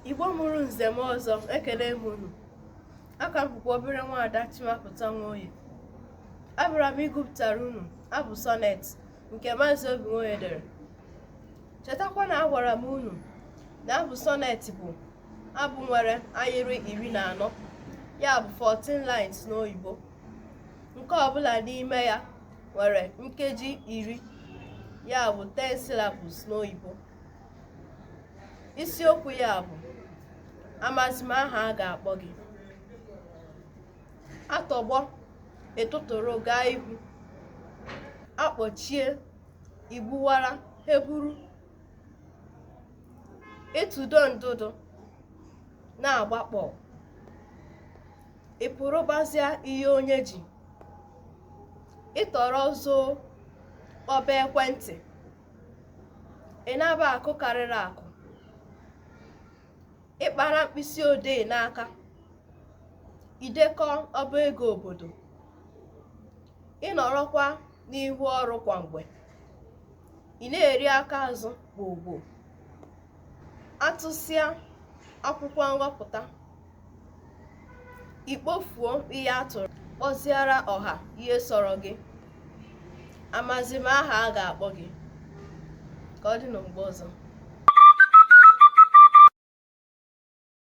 Igbo mụrụ nze mụọ ọzọ ekele m unu aha m bụkwa obere nwaada Chimapụta Nwoye abịara m ịgụpụtara unu abụ sọnet nke Maazị Obi Nwoye dere chetakwa na agwara m unu na abụ sọnet bụ abụ nwere ahịrị iri na anọ ya bụ 14 lines n'oyibo nke ọbụla n'ime ya nwere nkeji iri ya bụ 10 syllables n'oyibo isiokwu ya bụ amazi m aha a ga-akpọ gị a tọgbọ ị tụtụrụ gaa ihu a kpọchie i gbuwara ihe buru ị tụdo ndụdụ na-agbakpọ ị pụrụbazịa ihe onye ji ị tọrọ zoo kpọba ekwentị ị naba akụ karịrị akụ ị kpara mkpịsị odee n'aka i dekọ ọba ego obodo ị nọrọkwa n'ihu ọrụ kwa mgbe ị na-eri aka azụ gbogbo a tụsịa akwụkwọ nghọpụta i kpofuo ihe a tụrụ kpọziara ọha ihe sọrọ gị amazi m aha a ga-akpọ gị ka ọ dị na mgbe ọzọ